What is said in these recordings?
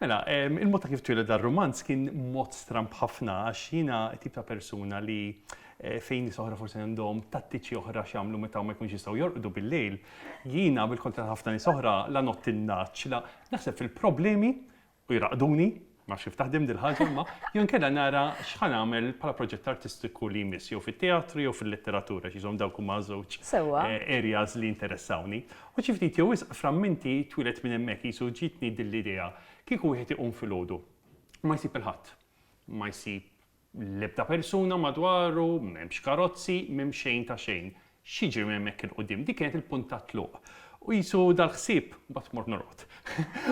Mela, il-mod ta' kif twieled dar-rumanz kien mod stramb ħafna għax jiena t-tip ta' persuna li fejn nies oħra forsi għandhom tattiċi oħra x'jagħmlu meta ma jkunux jistgħu jorqdu bil-lejl, jiena bil-kontra ta' ħafna nies oħra la ngħodd in-ngħaġġ, la naħseb fil-problemi u jraqqduni, ma nafx kif taħdem din il-ħaġa imma, jew inkella nara x'ħa nagħmel bħala proġett artistiku li jmiss jew fit-teatru jew fil-letteratura għax jisom dawk huma ż-żewġ areas li jinteressawni. U xi ftit jew wisq framminti twieled minn hemmhekk, qisu ġietni din l-idea, kieku wieħed iqum filgħodu, ma jsib il-ħadd. Ma jsib l-ebda persuna madwaru, m'hemmx karozzi, m'hemm xejn ta' xejn. X'jiġri minn hemmhekk 'il quddiem? Dik kienet il-punt tat-tluq. U qisu dal-ħsieb, mbagħad tmur norqod.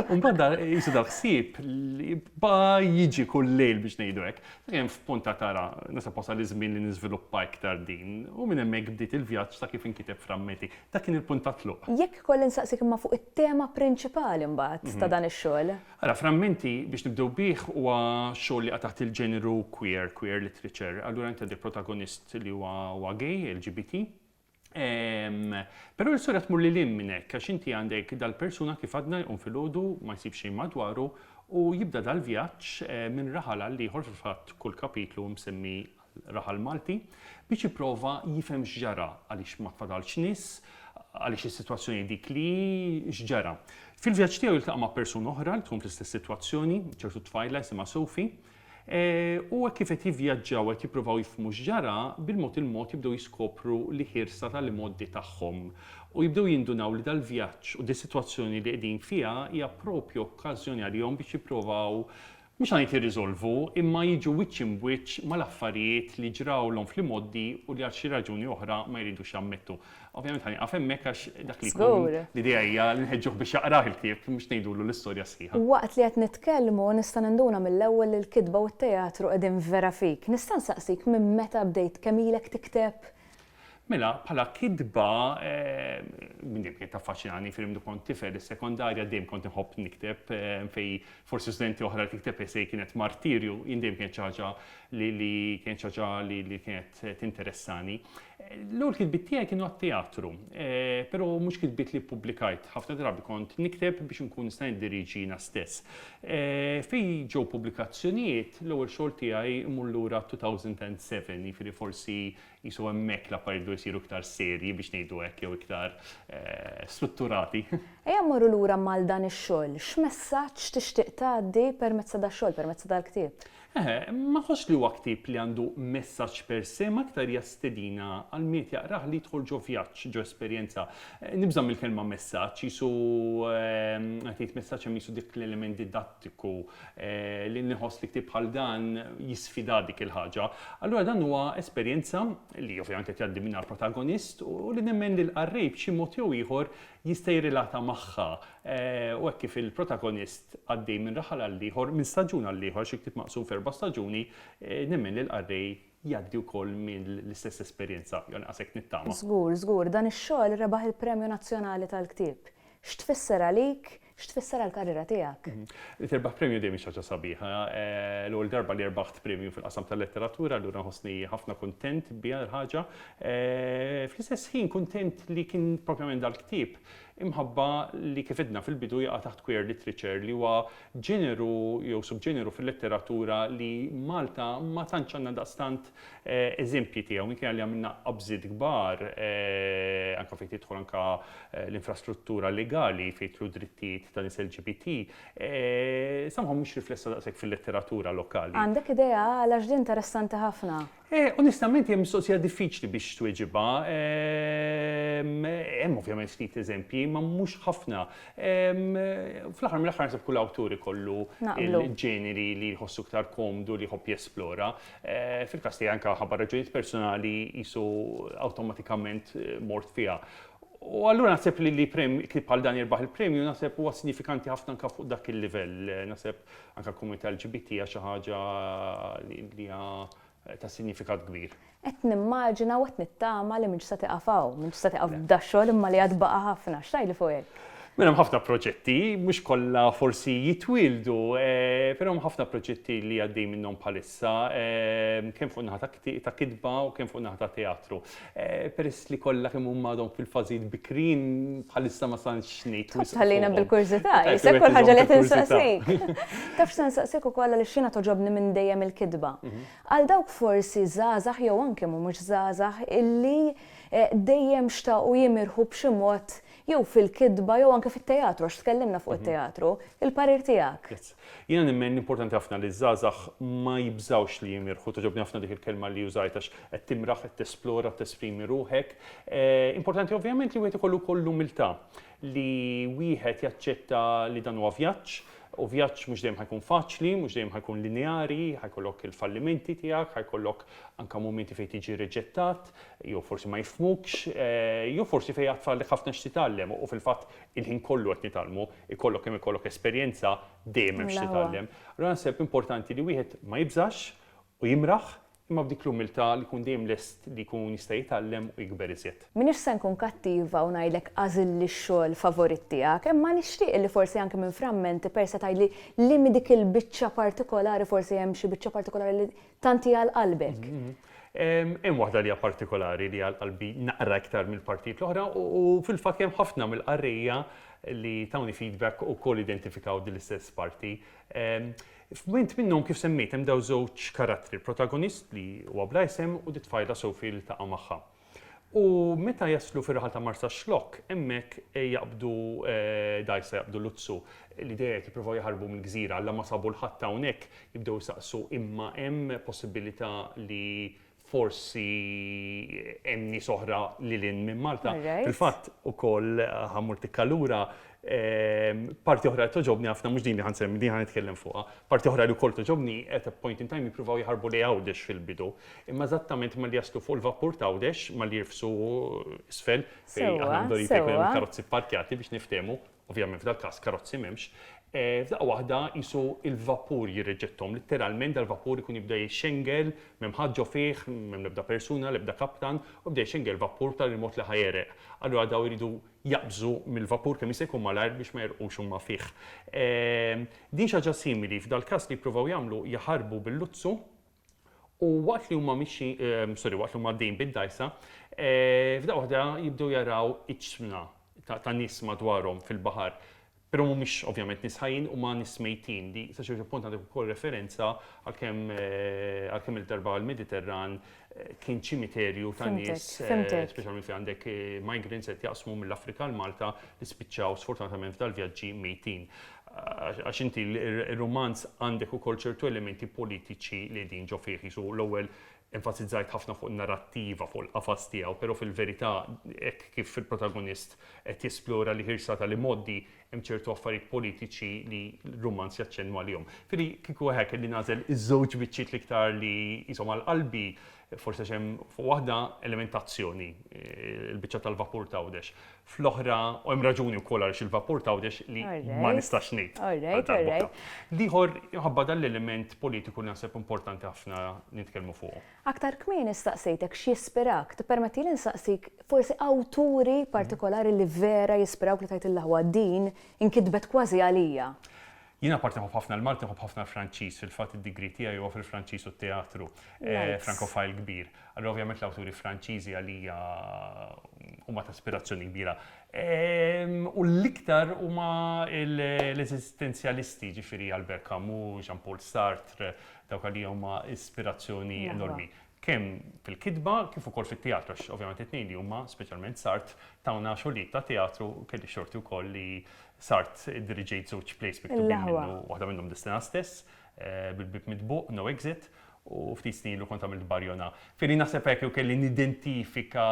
U mbagħad da, qisu dal-ħsieb li baqa' jiġi kull lejl biex ngħidu hekk. Sakemm f'punt għad ara, naħseb wasal iż-żmien li niżviluppa iktar din, u minn hemmhekk bdiet il-vjaġġ ta' kif inkiteb f'Rammeti. Dak kien il-punt ta' tluq. Jekk ikolli nsaqsik imma fuq it-tema prinċipali mbagħad ta' dan ix-xogħol. Ara, f'Rammenti, biex nibdew bih, huwa xogħol li jaqa' taħt il-ġeneru queer, queer literature. Allura inti għandek protagonist li huwa gay, LGBT. Ehm, Però l-istorja tmur li lim minn hekk għax inti għandek dal-persuna kif għadna jqum filgħodu ma jsib xejn madwaru u jibda dal-vjaġġ eh, minn raħal għal ieħor fil-fatt kull kapitlu msemmi raħal Malti biex jipprova jifhem x'ġara għaliex ma tfadalx nies għaliex is-sitwazzjoni dik li x'ġara. Fil-vjaġġ tiegħu jiltaqa' ma' persuna oħra li tkun fl-istess sitwazzjoni, ċertu tfajla jisimha Sofi, U hekk kif qed jivvjaġġaw qed jippruvaw jifhmu x'ġara, bil-mod il-mod jibdew jiskopru l-ħirsa tal-imgħoddi tagħhom. U jibdew jindunaw li dal-vjaġġ u dis-sitwazzjoni li qegħdin fiha hija proprju okkażjoni għalihom biex jipprovaw, mhux ħa ngħid jirriżolvu, imma jiġu wiċċ imbwiċċ mal-affarijiet li ġrawlhom fl-imgħoddi u li għal xi raġuni oħra ma jridux jammettu. Ovvjament ħa nieqaf hemmhekk għax dak li jkun l-idea hija li nħeġġuh biex jaqrah il-ktieb mhux ngħidulu l-istorja sħiħa. Waqt li qed nitkellmu nista' ninduna mill-ewwel li l-kitba u t-teatru qegħdin vera fik. Nista' nsaqsik minn meta bdejt kemm ilek tikteb? Mela, bħala kitba, minn dejjem kienet taffaċinani, filmdu kont tifel is-sekondarja dejjem kont inħobb nikteb fejn Forsi studenti oħra li tikteb essay kienet martirju, jien dejjem kienet xi ħaġa li li kienet xi ħaġa li li kienet tinteressani. L-ewwel kitbiet tiegħi kienu għat-teatru, però mhux kitbiet li ppubblikajt. Ħafna drabi kont nikteb biex inkun nista' niddirieġi jiena stess. Fejn ġew pubblikazzjonijiet, l-ewwel xogħol tiegħi mmur lura għat-2007, jiġifieri forsi Qisu hemmhekk l-affarijiet bdew isiru iktar serji biex ngħidu hekk jew iktar strutturati. Ejja mmorru lura mal dan ix-xogħol. X'messaġġ tixtieq tgħaddi permezz ta' dax-xogħol, permezz ta' dal-ktieb? Eħe, ma nħossx li huwa ktieb li għandu messaġġ per se, ma iktar hija stedina għal min qed jaqrah li jidħol ġo vjaġġ, ġo esperjenza. Nibża' mill-kelma messaġġ, qisu meta tgħid messaġġ hemm qisu dik l-element prattiku li nħoss li ktieb bħal dan jisfida dik il-ħaġa. Allura dan huwa esperjenza li ovvjament qed jgħaddi minnha l-protagonist u li nemmen li l-qarrej b'xi mod jew ieħor jista' jirrilata magħha u hekk kif il-protagonist għaddej minn raħal għall-ieħor, minn staġun għall-ieħor, xi ktieb maqsum f'erba' staġuni, nemmen li l-qarrej jgħaddi wkoll minn l-istess esperjenza, jew anqas hekk nittama. Żgur, żgur. Dan ix-xogħol rebaħ il-Premju Nazzjonali tal-Ktieb. X'tfisser għalik, x'tfisser għall-karriera tiegħek? Li tirbaħ premju dejjem hi xi ħaġa sabiħa. L-ewwel darba li rbaħt premju fil-qasam tal-letteratura, allura nħossni ħafna kuntent biha l-ħaġa. Fl-istess ħin kuntent li kien propjament dal-ktieb imħabba li kif għidna fil-bidu jaqa' taħt queer literature li huwa ġeneru jew subġeneru fil-letteratura li Malta ma tantx għandna daqstant eżempji tiegħu minkejja li għamilna qabżiet kbar anke fejn tidħol anke l-infrastruttura legali fejn jidħlu d-drittijiet ta' nies LGBT somehow mhux riflessa daqshekk fil-letteratura lokali. Għandek idea għalax din interessanti ħafna? Eh, onestament hija mistoqsija diffiċli biex tweġibha. Ehm, hemm ovvjament ftit eżempji, ma mhux ħafna. Ehm, fl-aħħar mill-aħħar nsab kull awtur ikollu il-ġeneri li jħossu ktar komdu li jħobb jesplora. Eh, fil-każ tiegħi anke ħabba raġunijiet personali jisu awtomatikament eh, mort fiha. U allura naħseb li li kif bħal dan jirbaħ il-premju naħseb huwa sinifikanti ħafna anke fuq dak il-livell. Naħseb Anke għall-komunità LGBT hija xi ħaġa li hija ta' sinjifikat kbir. Qed nimmaġina u qed nittama li m'intx se tieqaf hawn, m'intx se tieqaf b'dax-xogħol imma li għad baqa' ħafna. X'tgħidli fuq hekk? Mela hemm ħafna proġetti, mhux kollha forsi jitwieldu, però hemm ħafna proġetti li għaddej minnhom bħalissa, kemm fuq in-naħa ta' kitba u kemm fuq in-naħa ta' teatru. Peress li kollha kemm huma għadhom fil-fażijiet bikrin, bħalissa ma stantx ngħid wisq. Tħallina bil-kurżità, jisek kull ħaġa li qed insaqsik. Taf x'se nsaqsik ukoll għaliex jiena togħġobni minn dejjem il-kitba. Għal dawk forsi żgħażagħ jew anke mhumiex żgħażagħ illi dejjem xtaqu jimirħu b'xi mod Jew fil-kitba jew anke fit-teatru, għax tkellimna fuq it-teatru. Il-parir tiegħek. Jiena nemmen li importanti ħafna li ż-żgħażagħ ma jibżgħux li jimirħu, togħġobni ħafna dik il-kelma li użajt għax qed timraħ, qed tesplora, tesprimi ruħek. Importanti ovvjament li wieħed ikollu wkoll l-umiltà li wieħed jaċċetta li dan huwa vjaġġ u vjaġġ mhux dejjem ħa jkun faċli, mhux dejjem ħa jkun lineari, ħa jkollok il-fallimenti tiegħek, ħa jkollok anke mumenti fejn tiġi riġettat, jew forsi ma jifhmukx, jew forsi fejn għad fadlek ħafna x'titgħallem u fil-fatt il-ħin kollu qed nitgħallmu, ikollok kemm ikollok esperjenza dejjem hemm x'titgħallem. Allura naħseb importanti li wieħed ma jibżax u jimraħ imma b'dik l-umiltà li jkun dejjem lest li jkun jista' jitgħallem u jikber iżjed. M'iniex se nkun kattiva u ngħidlek għażilli x-xogħol favorit tiegħek, imma nixtieq illi forsi anke minn frammenti persa tgħidli liema dik il-biċċa partikolari forsi hemm xi biċċa partikolari li Tant hi għal qalbek. Hemm waħda li hija partikolari li għal qalbi naqra iktar mill-partijiet l-oħra u fil-fatt hemm ħafna mill-qarrejja li tawni feedback ukoll identifikaw din l-istess parti. F'mument minnhom kif semmejt hemm dawn żewġ karattri, il-protagonist li huwa bla isem u t-tfajla Sophie li ltaqa' magħha. U meta jaslu fir-raħal ta' Marsaxlokk, hemmhekk jaqbdu dgħajsa, jaqbdu luzzu, li dejjem qed jippruvaw jaħarbu mill-gżira. Alla ma sabu 'l ħadd hawnhekk, jibdew isaqsu imma hemm possibilità li forsi hemm nies oħra lil hinn minn Malta. Fil-fatt ukoll, ħa mmur tikka lura, Parti oħra li togħġobni ħafna mhux din li ħa nsemmi, din ħa nitkellem fuqha. Parti oħra li wkoll togħġobni at a point in time jippruvaw jaħarbu lejn Għawdex fil-bidu. Imma eżattament malli jaslu fuq il-vapur ta' Għawdex, malli jirfsu isfel, fejn aħna mdorrijin fejn ikun hemm il-karozzi pparkjati biex niftehmu, ovvjament f'dal-każ karozzi m'hemmx, f'daqqa waħda qisu l-vapur jirriġetthom. Litteralment dal-vapur ikun jibda jxengel, m'hemm ħadd ġo fih, m'hemm l-ebda persuna, l-ebda kaptan, u jibda jxengel vapur b'tali mod li ħa jegħreq. Allura dawn iridu jaqbżu mill-vapur kemm jista' jkun malajr biex ma jgħerqux huma fih. Din xi ħaġa simili, f'dal-każ li jippruvaw jagħmlu jaħarbu bil-luzzu u waqt li huma mixjin, sorry, waqt li huma għaddejjin bid-dgħajsa, f'daqqa waħda jibdew jaraw iġsmna ta' nies madwarhom fil-baħar. Però mhumiex ovvjament nies ħajjin, huma nies mejtin. Di sa ċertu punt għandek ukoll referenza għal kemm għal kemm-il darba l-Mediterran kien ċimiterju ta' nies, speċjalment fejn għandek migrants qed jaqsmu mill-Afrika għal Malta li spiċċaw sfortunatament f'dal-vjaġġi mejtin. Għax inti r-rumanz għandek ukoll ċertu elementi politiċi li qegħdin ġo fih, qisu l-ewwel Enfasizzajt ħafna fuq in-narrattiva, fuq il-qafas tiegħu, però fil-verità hekk kif il-protagonist qed jesplora l-ħirsa tal-imgħoddi hemm ċertu affarijiet politiċi li r-rumanz jaċċennu għalihom. Ġifieri kieku eħe kelli nagħżel iż-żewġ biċċiet l-iktar li qishom għal qalbi, forsi għax hemm fuq waħda element ta' azzjoni, il-biċċa tal-vapur t'Għawdex, fl-oħra u hemm raġuni wkoll għaliex il-vapur t'Għawdex li ma nistax ngħid għal darb'oħra. L-ieħor minħabba dan l-element politiku li naħseb importanti ħafna li nitkellmu fuqu. Aktar kmieni staqsejtek x'jispirak, tippermettieli nsaqsik forsi awturi partikolari li vera jispirawk li tgħid ill'aħwa din inkitbet kważi għalija? Jien apparti nħobb ħafna l-Malti nħobb ħafna l-Franċiż, fil-fatt id-degree tiegħi huwa fil-Franċiż u t-teatru, eh, Francophile kbir. Allura ovvjament l-awturi Franċiżi għalija huma ta' ispirazzjoni kbira. Ehm, u l-iktar huma l-eżistenzjalisti, ġifieri Albert Camus, Jean-Paul Sartre, dawk għalija huma ispirazzjoni enormi. kemm fil-kitba kif ukoll fit-teatru għax ovvjament it-tnejn li huma speċjalment sart tawna xogħlijiet ta' teatru u kelli xorti wkoll li sart iddiriġejt żewġ plays miktubin minnu, waħda minnhom Destinat stess, Bil-Bieb Mitbuq, No Exit, u ftit snin ilu kont għamilt Barjona. F'li naħseb hekk jew kelli nidentifika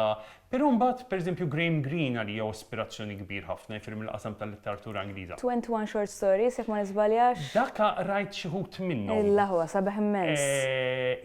Però mbagħad, pereżempju, Graham Greene għalija hu ispirazzjoni kbir ħafna, jiġifieri mill-qasam tal-litteratura Ingliża. Twenty One Short Stories, jekk ma niżbaljax. Daka qrajt xi wħud minnhom. Illa huwa sabiħ immens.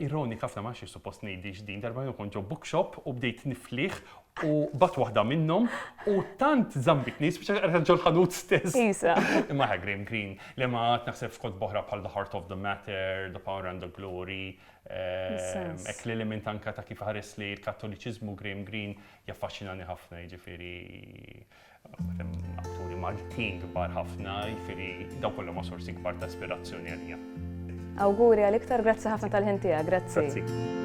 Ironika ħafna, ma nafx jekk suppost ngħidhiex din, darba jiena kont ġo bookshop u bdejt niflieh u b'għadt waħda minnhom u tant żammmitni, spiċċajt qrajtha ġol-ħanut stess. Isa. Imma aha, Graham Greene, le ma għad naħseb f'kotba oħra bħal The Heart of the Matter, The Power and the Glory, Hekk lil hinn minn anke ta' kif iħares li l-Kattoliċiżmu Graham Greene jaffaxxinani ħafna jiġifieri atturi Maltin kbar ħafna jiġifieri dawn kollha huma sorsi kbar ta' ispirazzjoni għalija. Awguri għal iktar, grazzi ħafna tal-ħin tiegħek, grazzi. Grazzi.